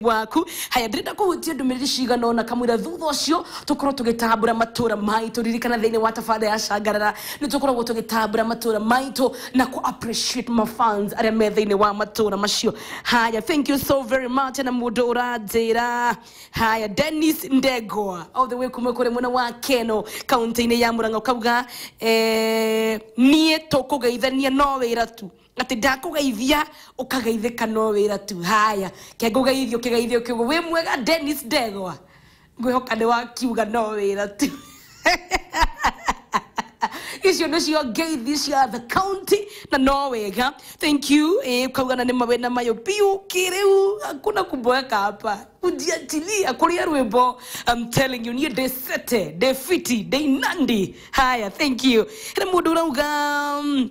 waku haya ndĩrenda kũhutia ndũmĩrĩri cigana ona kamwĩra thutha ũcio tũkorwo tũgĩtambũra matũra maitũ ririkana thĩinĩ wa tabarĩra ya cangarara nĩ tũkoragwo tũgĩtambũra matũra maitũ na ku appreciate mafans arĩa me thĩinĩ wa matũra macio haya thank you so very much na mũndũ ũranjĩra haya denis ndegwa all the way kuma kũrĩ mwena wa keno kaunti-inĩ ya mũrang'a ũkauga eh, niĩ tũkũgeithania no wĩra tu Atĩ ndakũgeithia ũkageithĩka no wĩra tu haya ke ngũgeithio kĩgeithio kĩu wĩ mwega Dennis Ndegwa ngwĩhoka nĩ wakiuga no wĩra tu icio nĩcio ngeithi cia the county na no wega thank you eh, ukauga na nĩ mawĩna mayo biũ kĩrĩu hakuna kuboeka hapa kujiachilia kuria rwĩmbo I'm telling you niĩ ndĩ sete ndĩ fiti ndĩ inandi haya thank you hena mũndũ ũrauga mm,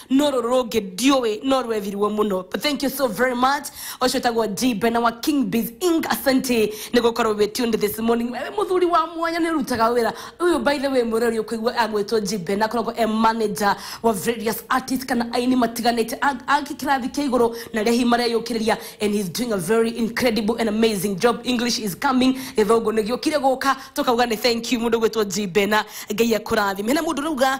no rũrũ rũngĩ ndiũĩ no rwethirwo mũno But thank you so very much ũcio tagwo d bena wa king biz ing asante nĩ gũkorwo wĩ tuned this morning wewe mũthuri wa mwanya nĩ ũrutaga wĩra ũyũ by the way mũrori ũkũigua agwĩtwo g bena akoragwo e manager wa various artists kana aini matiganĩte a- a kĩrathi kĩa igũrũ na rĩahi mareyũkĩrĩria and he's doing a very incredible and amazing job english is coming gĩthũngũ nĩ gĩũkire gũka tũkauga nĩ thank you mũndũ gwĩtwo g bena ngai akũrathime hena mũndũ rauga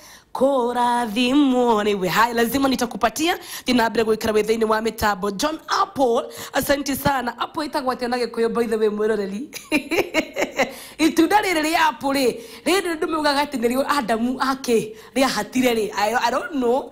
kurathimwo rĩu hai lazima nitakupatia thinaambere gwikara wĩ thĩinĩ wa mitambo john apple asante sana apple itagwo atĩa na gĩkũyũ by the way mwĩroreri itunda rĩrĩ rĩa apple rĩ rĩrĩ ndũmĩugaga atĩ nĩrĩo adamu ake rĩahatire rĩ I, I don't know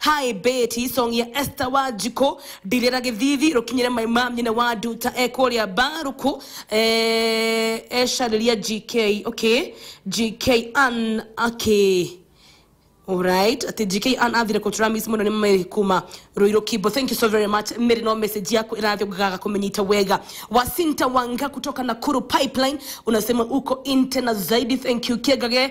Hi Betty, song ya Esther Wanjikũ ndirĩra gĩthithi rũkinyĩre mai ma nyina wa nduta e kũrĩa mbarũkũ eh, ecarĩria GK okay GK an okay Alright, ati GK an athire kutura miss muno ni Mary kuma Ruiru Kibo. Thank you so very much. Mary no message yako irathi ugaga kumenyita wega. Wasinta Wanga kutoka Nakuru Pipeline unasema uko inte na zaidi. Thank you Kegage